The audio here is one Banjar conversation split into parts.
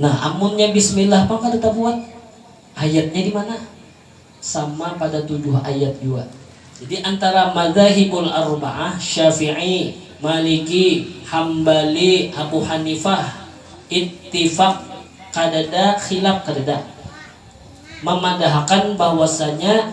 Nah, amunnya bismillah pang kada tabuat. Ayatnya di mana? Sama pada tujuh ayat jua. Jadi antara madzahibul arba'ah, Syafi'i, Maliki, Hambali, Abu Hanifah, ittifaq, kadada khilaf, kadada. Mamadahakan bahwasanya.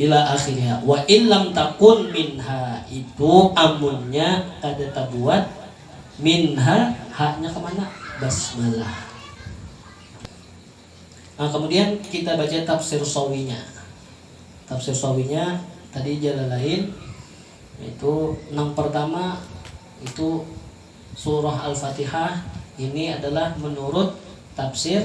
Ila akhiriha wa in lam takun minha itu amunnya kada tabuat minha hanya kemana basmalah. Nah, kemudian kita baca tafsir sawinya. Tafsir sawinya tadi jalan lain itu yang pertama itu surah Al-Fatihah ini adalah menurut tafsir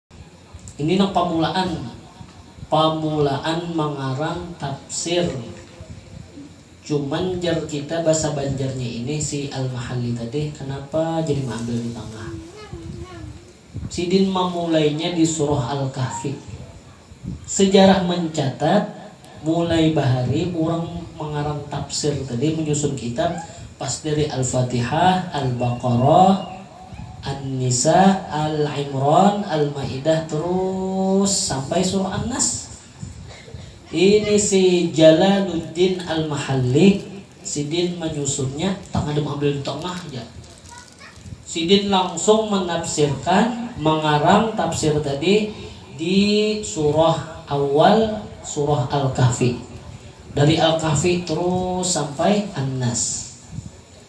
Ini nang pamulaan, pamulaan mangarang tafsir. Cuman jar kita basa banjarnya ini si Al-Mahalli tadi kanapa jadi maambil di tangah. Sidin mamulainya di surah Al-Kahfi. Sejarah mencatat. Mulai bahari urang mangarang tafsir tadi manyusun kitab pas dari Al-Fatihah, Al-Baqarah, An-Nisa, Al-Imran, Al-Maidah terus sampai surah An-Nas. Ini si Jalaluddin Al-Mahallik sidin manyusunnya tangada maambil di tangah ja. Sidin langsung menafsirkan mengarang tafsir tadi di surah awal surah Al-Kahfi. Dari Al-Kahfi terus sampai An-Nas.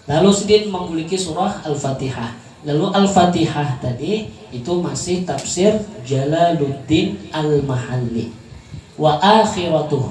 Lalu sidin mambuliki surah Al-Fatihah. Lalu Al-Fatihah tadi itu masih tafsir Jalaluddin Al-Mahalli. Wa akhiratuh.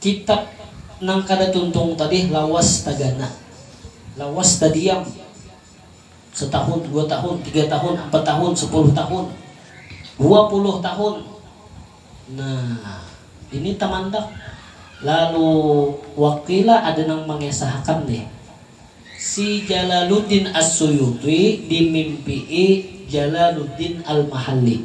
Kitab nang kada tuntung tadih lawas tagana, lawas tadiam satahun, dua tahun, tiga tahun, ampat tahun, sapuluh tahun, dua puluh tahun. Nah, ini tamandak. Lalu wakila ada nang mangisahakan nih, si Jalaluddin As-Suyuti dimimpii Jalaluddin Al-Mahalli.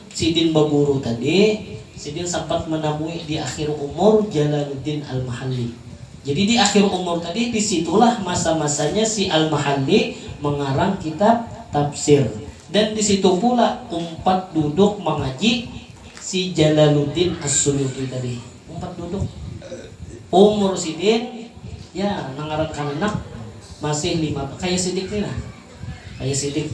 Sidin baguru tadi, sidin sampat manamui di akhir umur Jalaluddin Al-Mahalli. Jadi di akhir umur tadi di situlah masa-masanya si Al-Mahalli mangarang kitab tafsir dan di situ pula umpat duduk mangaji si Jalaluddin As-Suyuti tadi. Umpat duduk. Umur sidin, ya nang ngaran kananak masih lima, kaya sidik ni nah, kaya sidik.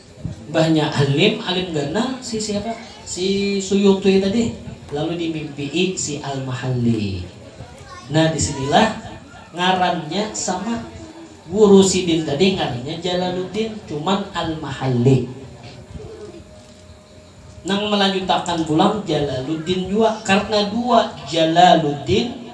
Mbahnya Alim, Alim ganal si siapa? Si Suyung Tui tadi. Lalu dimimpii si Al-Mahalli. Nah disinilah ngarannya sama. Guru sidin tadi ngarannya Jalaluddin, cuman Al-Mahalli. Nang melanjutakan pulang Jalaluddin jua. Karena dua Jalaluddin.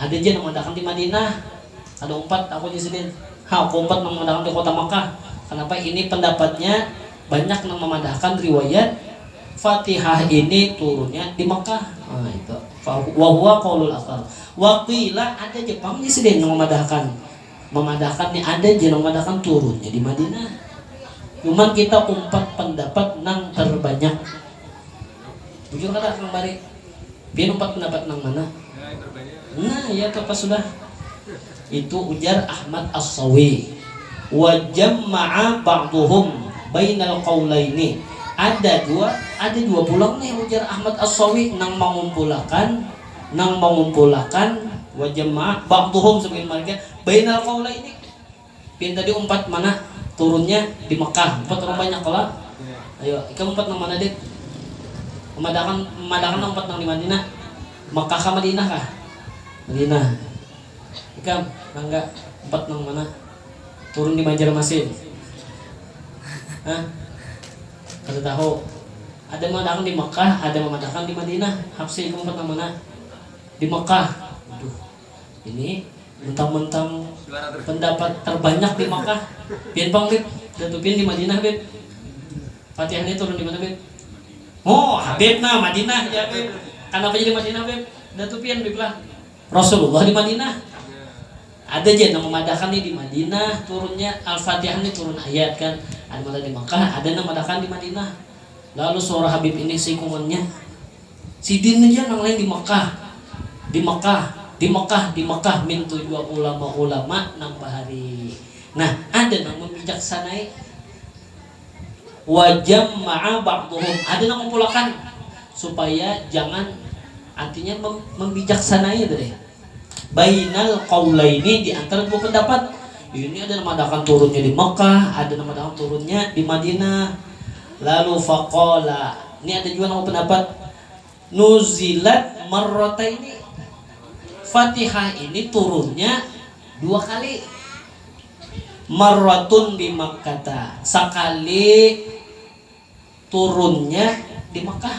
Ada ja nang maandakan di Madinah, kada umpat aku jar sidin. Ha, aku umpat nang maandakan di kota Makkah. Kanapa ini pandapatnya banyak nang mamadahakan riwayat Fatihah ini turunnya di Makkah. Ha, itu. Fa wa huwa qaulul aktsar. Wa qila ada ja pang jar sidin nang mamadahakan, mamadahakan ni ada ja nang mamadahakan turunnya di Madinah. Cuman kita umpat pandapat nang tarbanyak. Bujur kada Kang Bari? Pian umpat pendapat nang mana? Nah, ya tu apa sudah. Itu ujar Ahmad As-Sawi. Wa jamma'a ba'duhum bainal qaulaini. Ada jua, ada jua pulang nih ujar Ahmad As-Sawi nang mangumpulakan, nang mangumpulakan, wa jamma'a ba'duhum, sabagian marga, bainal qaulaini. Pian tadi umpat mana turunnya di Mekah umpat orang banyak kalo ayo ikam umpat nang mana dit memadakan memadakan lah umpat nang di Madina Mekah kah Madinah kah Madinah ikam Rangga umpat nang mana turun di Banjarmasin ha kada tahu ada memadakan di Mekah ada memadakan di Madinah Hapsi ikam umpat nang mana di Mekah waduh. Ini muntang-muntang pendapat terbanyak di Makkah. Pian pang Bib, datu pian di Madinah Bib. Fatihah nih turun di mana Bib? Oh, Habib nah Madinah ya Bib. Kanapa jadi Madinah Bib? Datu pian Bib lah. Rasulullah di Madinah. Ada ja nang memadahkan nih di Madinah turunnya Al-Fatihah nih turun ayat kan. Ada matan di Makkah, ada nang madahkan di Madinah. Lalu suara Habib ini seikungannya. Sidin haja nang lain di Mekah, di Mekah, di Mekah, di Mekah mintu jua ulama-ulama nang bahari. Nah, ada nang mambijaksanai. Wa jamma'a ba'duhum, ada nang ngumpulakan supaya jangan, artinya mambijaksanai tadi. Bainal qaulaini di antara dua pendapat, ini ada nang madahakan turunnya di Makkah, ada nang madahakan turunnya di Madinah. Lalu faqala, ni ada jua nang bapandapat nuzilat marrataini, Fatihah ini turunnya dua kali. Marratun bi Makkata, sakali turunnya di Makkah.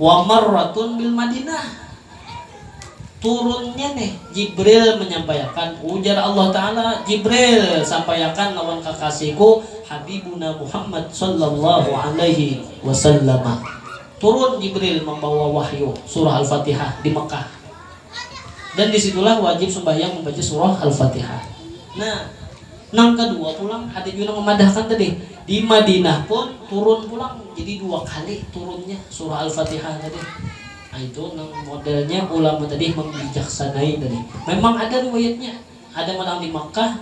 Wa marratun bil Madinah. Turunnya nih Jibril manyampaiakan ujar Allah Ta'ala, Jibril, sampaiakan lawan kakasihku Habibuna Muhammad Shallallahu Alaihi Wasallama. Turun Jibril mambawa wahyu surah Al-Fatihah di Mekah. Dan di situlah wajib sumbahyang mambaca surah Al-Fatihah. Nah, nang kadua pulang ada jua nang mamadahkan tadi, di Madinah pun turun pulang, jadi dua kali turunnya surah Al-Fatihah tadi. Nah, itu nang modelnya ulama tadi mambijaksanai tadi. Memang ada riwayatnya, ada pulang di Makkah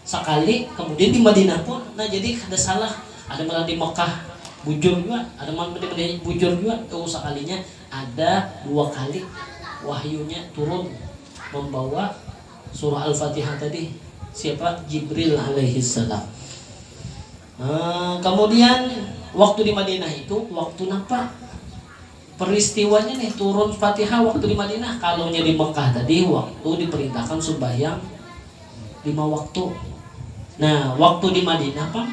sakali, kemudian di Madinah pun. Nah, jadi kada salah, ada pulang di Makkah bujur jua, ada pulang di Madinah bujur jua, tuh sakalinya. Ada dua kali wahyunya turun membawa surah Al-Fatihah tadi. Siapa? Jibril alaihissalam. Eh, kemudian waktu di Madinah itu waktu napa? Peristiwanya nih turun Fatihah waktu di Madinah. Kalau nya di Mekah tadi waktu diperintahkan sembahyang lima waktu. Nah, waktu di Madinah pang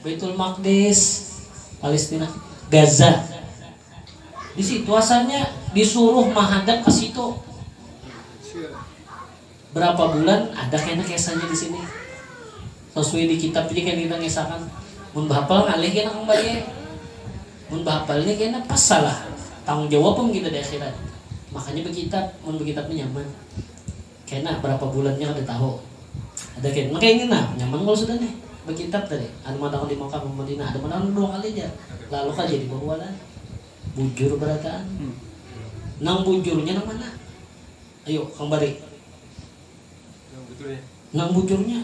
Baitul Maqdis, Palestina, Gaza. Di situ asalnya disuruh mahadap ka situ. Berapa bulan ada kena kesahnya di sini. Sasuai di kitab ja kena kita ngesahakan. Mun bahapal ngalih kena kembali. Mun bahapal ni kena pas salah. Tanggung jawab am kita di akhirat. Makanya bekitab, mun bekitab ni nyaman. Kena berapa bulan nya kada tahu. Ada kena maka ingin nah nyaman kalo sudah nih bakintab tadi ada madakan di Makkah Madinah ada madakan dua kali ja lalu kada jadi bahualan bujur barataan nang bujur nya nang mana ayu kang bari nang bujur nya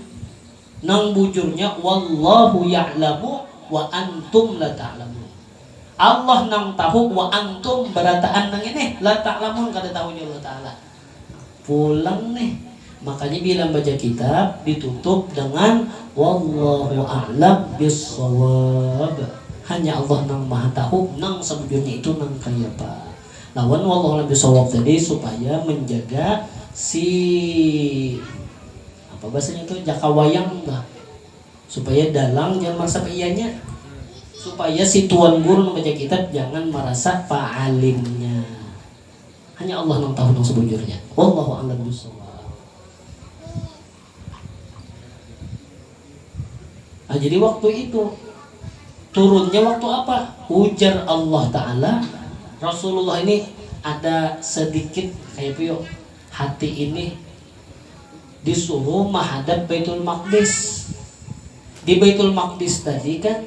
nang bujur nya wallahu ya'lamu wa antum la ta'lamun Allah nang tahu wa antum barataan nang ini la ta'lamun kada tahu ja Allah ta'ala Pulang nih. Makanya bila membaca kitab ditutup dengan Wallahu a'lam bis-shawab. Hanya Allah nang maha tahu nang sabujurnya itu nang kayapa. Lawan Wallahu a'lam bis-shawab tadi supaya menjaga si apa bahasanya tu jaka wayang bah supaya dalang jangan merasa paianya. Supaya si tuan guru nang baca kitab jangan merasa paalimnya. Hanya Allah nang tahu nang sebujurnya. Wallahu a'lam bissawab. Nah, jadi waktu itu turunnya waktu apa? Ujar Allah Ta'ala, Rasulullah ini ada sedikit kayak puyok hati ini disuruh menghadap Baitul Maqdis. Di Baitul Maqdis tadi kan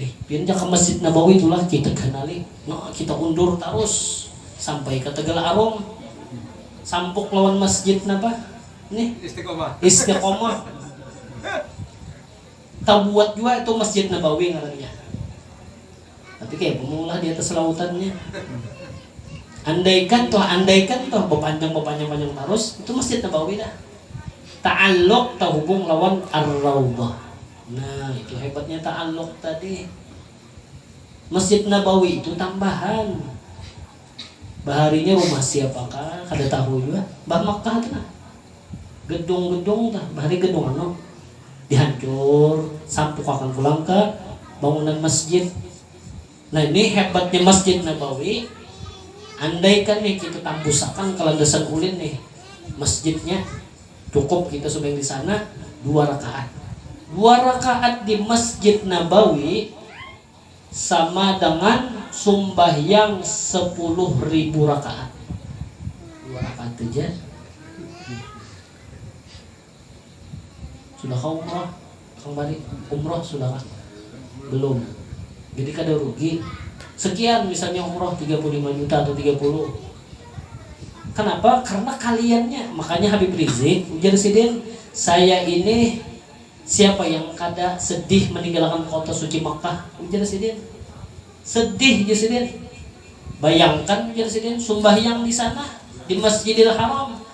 Eh, pian ja ka Masjid Nabawi tu lah kita ganali. Nah, kita undur tarus sampai ka Tegal Arum. Sampuk lawan Masjid napa nih? Istiqomah. Istiqomah. Tabuat jua itu Masjid Nabawi ngarannya. Tapi kayapa maulah di atas lautannya. Andaikan tuh, andaikan tuh, bapanjang, bapanjang, panjang tarus, itu Masjid Nabawi dah. Ta'alluq, tahubung lawan Ar-Raudhah. Nah itu hebatnya ta'alluq tadi. Masjid Nabawi itu tambahan. Baharinya rumah siapakah kada tahu jua. Bah Makkah tu nah. Gedung-gedung tu, bahari gedung anu dihancur, sampukakan pulang ka bangunan masjid. Nah ini hebatnya Masjid Nabawi, andaikan nih kita tambusakan ke landasan ulin nih masjidnya, cukup kita sumbahing di sana dua rakaat. Dua rakaat di Masjid Nabawi sama dengan sumbahyang sepuluh ribu rakaat. Dua rakaat haja. Sudah kah umroh kang bari? Umroh sudah kah? Belum. Jadi kada rugi. Sekian misalnya umroh tiga puluh lima juta atau tiga puluh. Kenapa? Karena kaliannya. Makanya Habib Rizik ujar sidin, saya ini siapa yang kada sedih meninggalkan kota suci Makkah? Ujar sidin. Sedih jar sidin. Bayangkan jar sidin sumbahyang di sana di Masjidil Haram.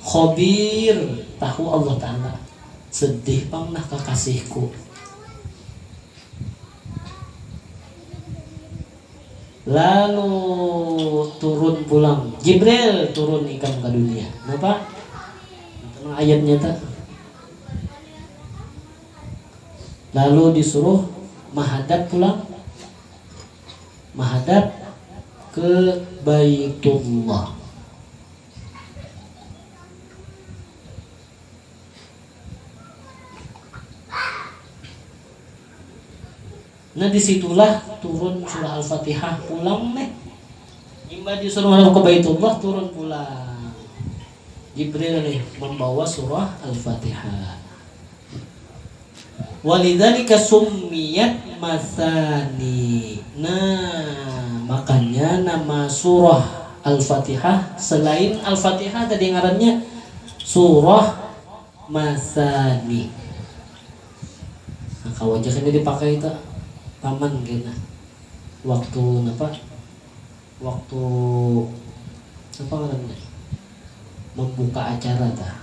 Khabir, tahu Allah Ta'ala. Sedih pang nah kakasihku. Lalu turun pulang. Jibril turun ikam ka dunia. Napa? Napa nang ayatnya ta? Lalu disuruh mahadap pulang. Mahadap ke Baitullah. Nah di situlah turun surah Al-Fatihah pulang nih. Imbah disuruh menghadap ke Baitullah turun pulang. Jibril nih membawa surah Al-Fatihah. Walidzalika summiyat matsani. Nah, makanya nama surah Al-Fatihah selain Al-Fatihah tadi ngarannya surah matsani. Nah, kawa ja kena dipakai itu taman kena waktu napa? Waktu apa ngarannya? Membuka acara tah.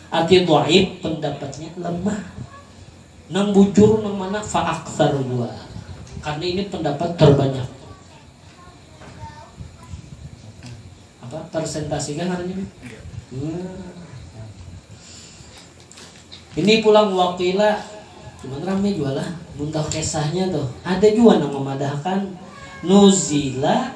Arti dhaif pendapatnya lemah. Nang bujur nang mana fa aktsar jua. Karena ini pendapat terbanyak. Apa persentasi kah ngarannya Bib? Ini pulang wa qila cuman rame jua lah mun tahu kesahnya tuh. Ada jua nang memadahkan nuzila.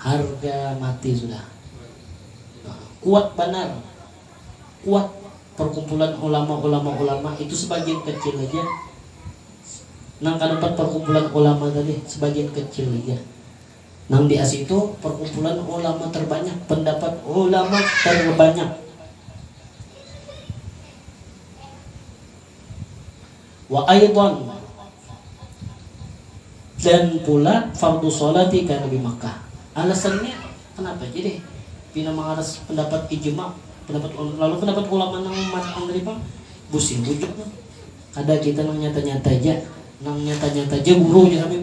Harga mati sudah. Kuat banar, kuat perkumpulan ulama ulama ulama itu sebagian kecil haja nang kada umpat perkumpulan ulama tadi sebagian kecil haja nang di asi itu perkumpulan ulama terbanyak pendapat ulama terbanyak. Wa aidhan, dan pula fardhu sholati ka Nabi Makkah. Alasannya kenapa ja deh pina mangaras pendapat ijma, pendapat ulama, lalu pendapat ulama nang umpat nang tadi pang busi bujur kada kita nang nyata-nyata ja, nang nyata-nyata ja guru jar kami.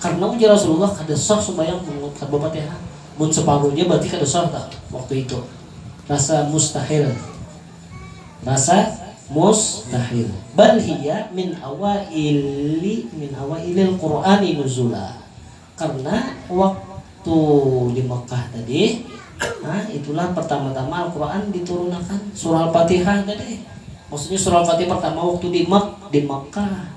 Karna ujar Rasulullah kada sah sumbayang mangut tanpa Fatihah. Mun separuh ja berarti kada sah ta waktu itu. Rasa mustahil. Rasa mustahil. Bal hiya min awaili min awailil Qur'ani nuzula. Karna waktu di Makkah tadi, ha, itulah pertama-tama Al-Qur'an diturunakan. Surah Al-Fatihah tadi. Maksudnya Surah Al-Fatihah pertama waktu di Mak, di Makkah.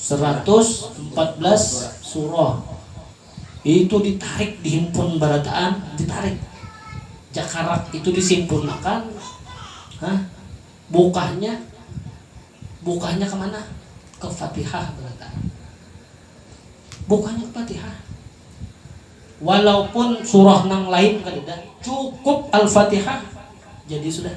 seratus empat belas surah itu ditarik dihimpun barataan ditarik jakarak itu disimpunakan Hah? bukahnya bukahnya kemana ke fatihah barataan bukahnya ke fatihah walaupun surah nang lain kadada cukup al-fatihah jadi sudah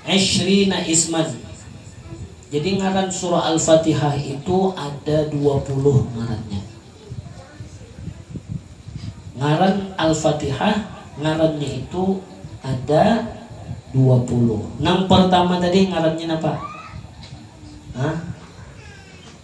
Ishrina isman, jadi ngaran surah Al-Fatihah itu ada dua puluh ngarannya. Ngaran Al-Fatihah ngarannya itu ada dua puluh. Nang pertama tadi ngarannya napa? Hah?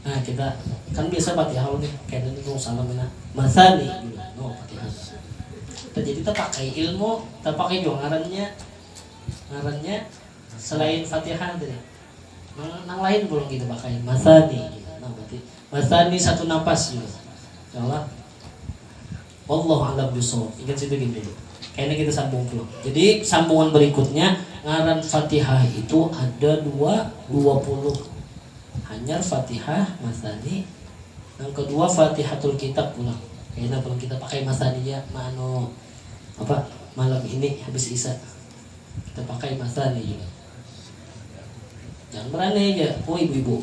Nah, kita kan biasa Fatihah nih, kena nih nung salam nah. Masani bila no Fatihah. Jadi terpakai ilmu, terpakai juga ngarannya. Ngarannya selain Fatihah tadi. Nang, nang lain belum kita pakai. Masani bila no berarti. Masani satu napas gitu. Insyaallah Wallahu a'lam bishawab. Ingat situ gin dulu. Kayaknya kita sambung pulang. Jadi sambungan berikutnya ngaran Fatihah itu ada dua dua puluh. Hanyar Fatihah Masani. Yang kedua Fatihatul Kitab pulang. Kayaknya pulang kita pakai Masaniya ma anu apa malam ini habis isa kita pakai Masani juga. Jangan berani aja, oh ibu-ibu.